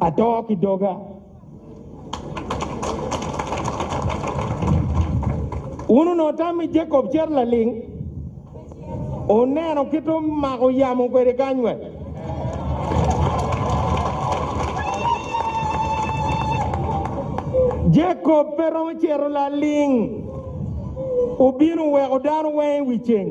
Ato ki doga. Wun onongo tammi Jacob cito laling, oneno kit omako yamo kwede kany we? Jacob pe romo cito laling, obino oweko dano weng i wi ceng.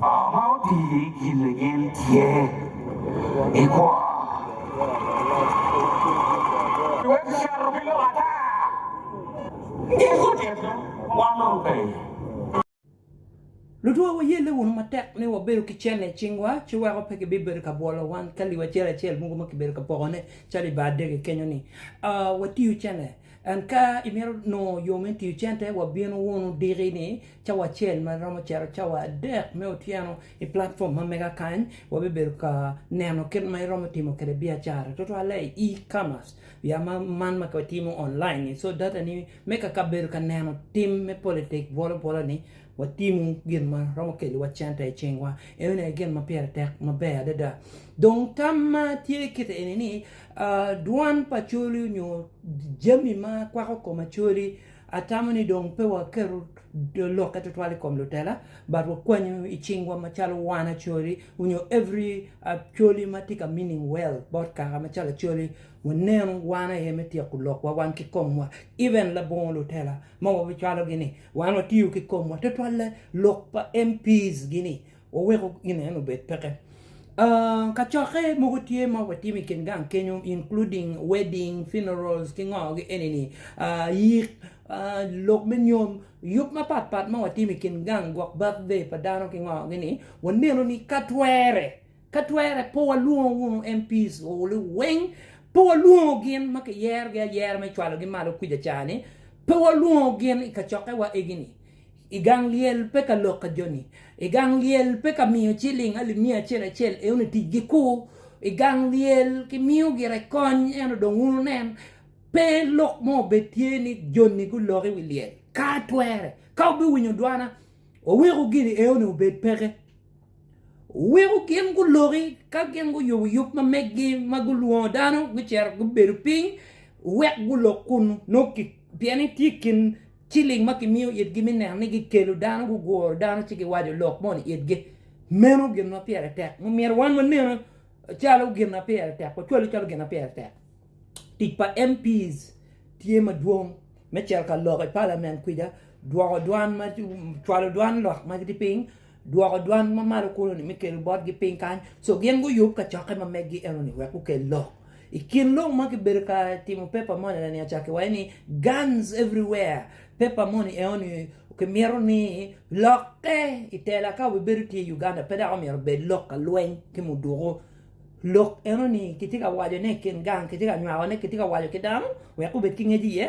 ma otiyo i kingi gin tye i kwo. Wek cito ki lok ata, gin gutito wan rubbe. Lutwa wayelle wunu matek ni wabedo ki cente i cingwa ci weko pe kibibedo ka bwolo wan ka liw acel acel mogo ma kibedo ka pokone calo i bar adege kenyo-ni. Watiyo cente And ka imito nongo yo me tiyo cente, wabino wunu diki ni cawa acel ma romo cito cawa adek me otyeno i platform ma mega kany. Wabibedo ka neno kit ma iromo timo kwede biacara, tutwalle i e-commerce, ya ma man ma watimo online-ni. So data-ni me ka kabedo ka neno tim me politik bwolobwolo-ni Watimo gin ma romo kelowa cente i cingwa, enoni aye gin ma pire tek maber adada. Dong tam ma tye kite eni ni dwan pa coli onyo jami ma kwako kom acoli atamo ni dong pe waketo lokke tutwal i kom lutela but wakwanyo i cingwa macalo wan acoli onyo every acoli ma tye ka meaning well bot kaka macalo acoli wanen wan aye me tyeko lokwa wan ki komwa even labongo lutela ma wabicwalogi ni Wan watiyo ki komwa tutwalle lok pa MPs gi ni waweko gin eno obed peke. Uh, kacokke mogo tye ma watimo i kin gang kenyo including wedding, funerals ki ngo gi enini. Uh, yik, uh, lok me nyom, yub mapat pat ma watimo i kin gang gwok birthday pa dano ki ngo gini, waneno ni ka twere Ka twere, pe walwongo wunu MPs wa wulu weng, pe walwongo gin ma kiyerogi ayera me cwalogi malo kwija ca-ni, pe walwongo gin i kacokkewa egi-ni. I gang lyel pe ka lok ka joni. I gang lyel pe ka miyo ciling alip miya acel acel eno ni ticgi ku. I gang lyel ki miyo gire kony eno dong wun wunen. Pe lok mo bed tye ni joni gulok i wi lyel. Ka twere, ka wubiwinyo dwana, waweko gini eno ni obed peke. Weko gin guloki ka gin guyubo yub ma meggi ma gulwongo dano gucito gubedo piny wek gulok kunu nongo ki pien ni tye kin ciling ma kimiyo itgi me neno ni gikelo dano guguro dano ci giwaco lok moni itgi meno gin ma pire tek myero wan waneno calo gin ma pire tek wacwale calo gin ma pire tek tic pa MPs tye madwong me cito ka lok i parliament kwija dwoko dwan ma cwalo dwan lok ma gitye piny Dwoko dwan ma malo kunoni me kelo botgi piny kany, co gin guyub kacokke ma meggi enoni wek gukel lok. I kin lok ma kibedo ka timo pepa moni laniang ca kiwaco ni Guns Everywhere. Pepa moni enoni kimito ni lokke i tela ka obibedo tye i Uganda pe dok omyero obed lok ka lweny ki muduku. Lok enoni kitye ka wacone i kin gang, kitye ka nywakone, kitye ka waco ki dano wek gubed ki ngec iye.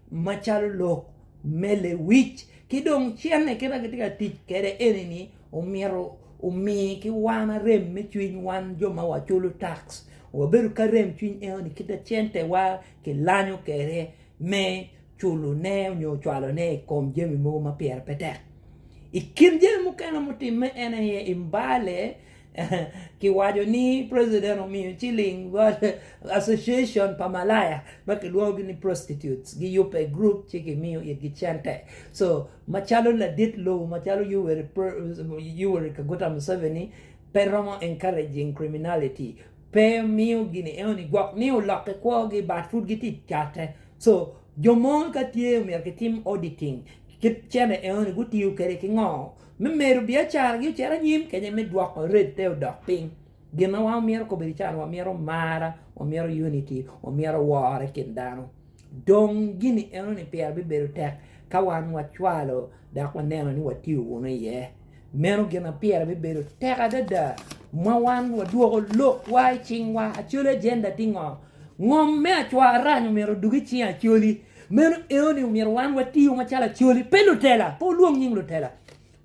macalo lok me lewic ki dong cente kit ma kitye ka tic kwede eni ni omyero omi ki wan arem me cwiny wan jo ma waculo tax wabedo ki arem cwiny eno ni kit ma centewa kilanyo kwede me culone nyo cwalone i kom jami mogo ma pire pe tek i kin jami mukene ma otimme en aye imbale Kiwaco ni president omiyo ciling bot association pa malaya ma kilwongo gi ni prostitutes giyubbe group ci gimiyo itgi cente so macalo ladit lobo macalo Yoweri Kaguta Museveni pe romo encouraging criminality pe miyo gini eno ni gwok ni olokke kwo gi but pud gitye cate so jo mo ka tye myero kitim auditing kit cente eno ni gutiyo kwede ki ngo me medo biacaragi ocit anyim kadi me dwoko redde odok piny. Gin ma wan omyero okobedi ca ni wamyero mara, wamyero unity, wamyero woro i kin dano. Dong gini eno ni pire bibedo tek ka wan wacwalo dok waneno ni watiyo wunu iye. Meno gin ma pire bibedo tek adada ma wan wadwoko lokwa i cingwa. Acoli ajenda tye ngo? Ngom me acwara rany omyero odug i cing acoli Meno eyo ni omyero wan watiyo macalo acoli, pe lutela, pe olwong nying lutela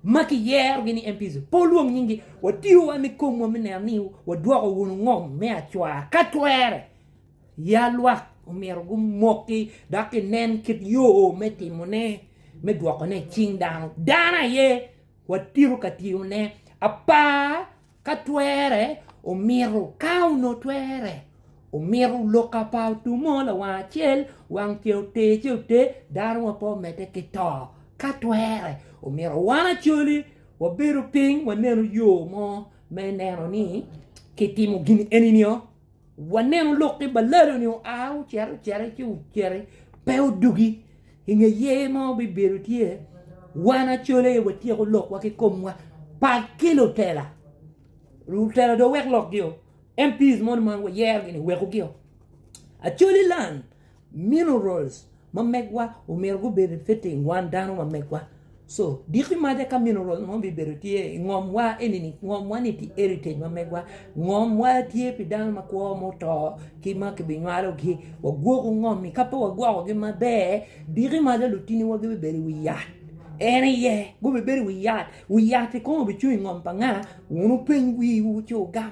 ma kiyerogi ni MPs, pe olwong nyinggi, watiyo wan ni komwa me neno ni wadwoko wunu ngom me acwar. Ka twere, ya lwak omyero gumokki dok ginen kit yo me timone, me dwokone i cing dano. Dano aye watito ka tiyone. Apar. Ka twere omito, ka onongo twere omito luka pa otumo lawang acel, wang ce oter ce oter, dano wa pe omedde ki to. Ka twere omito wan Acholi wabedo piny waneno yo mo me neno ni kitimo gin eni nio. Waneno lukke ba lalo-ni oa ocito ocito ci ocito pe odugi i nge yer ma obibedo tye, wan Acol aye watyeko lokwa ki komwa, pak ki lutela, lutela dong wek lokgi-o, MPs moni ma wayerogi-ni weko gi-o, Acoli Lang. Minerals ma megwa omyero gubed i fitting wan dano ma megwa so diki maca ka minerals mo bibedo tye i ngomwa enini ngomwa ni tye heritage ma megwa ngomwa tye pi dano ma kwo ma oto ki ma kibinywalogi wagwoko ngomi ka pe wagwokogi maber diki maca lutiniwa gibibedo i wi yat en aye gubibedo i wi yat, wi yatti kong obicung i ngom pa nga wun wupeny wiwu ci wugam.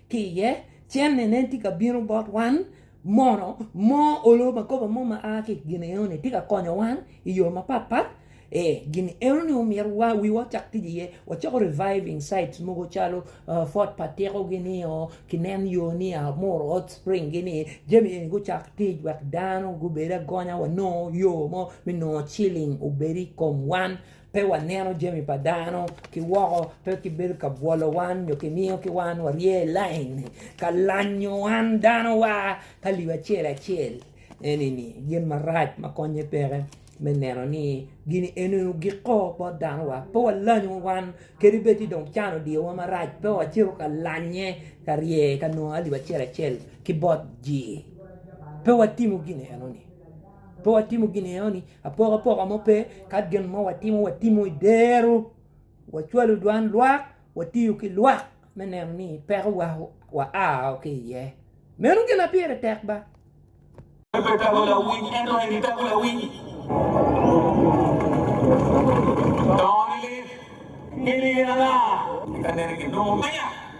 ki iye, cen nene en tye ka bino bot wan mono mo olo makobo mo ma aa ki i gin enoni tye ka konyo wan i yo mapat pat. Ee, gin enoni omyero wa, wiwa ocak tic iye, wacako reviving sites mogo calo ah, Fort pa Tiko-gi ni o, kinen yo ni a Mur Hot Spring-gi ni, jami eni gucak tic wek dano gubed agonya wanongo yo mo me nongo ciling obed i kom wan. Pe waneno jami pa dano ki woko, pe kibedo ka bwolowa nyo ki miyo ki wan warye i lain ka lanyo wan danowa ka libe acel acel. Eni-ni gin marac ma konye peke me neno ni gini eni ogiko bot danowa. Pe walanyo wan kadi bed ci dong can odiyowa marac pe wacito ka lanye ka rye ka nongo alip acel acel ki bot ji. Pe watimo gin eno-ni. pe watimo gin eno ni apoka poka mo pe ka gin mo watimo watimo i dero wacwalo dwan lwak watiyo ki lwak me neno ni peko wa wa ao ki iye meno gin ma pire tek ba Pepe tago lawiny ento eni tago lawiny dongo ni lit gini gin ana ka nene gin nongo meya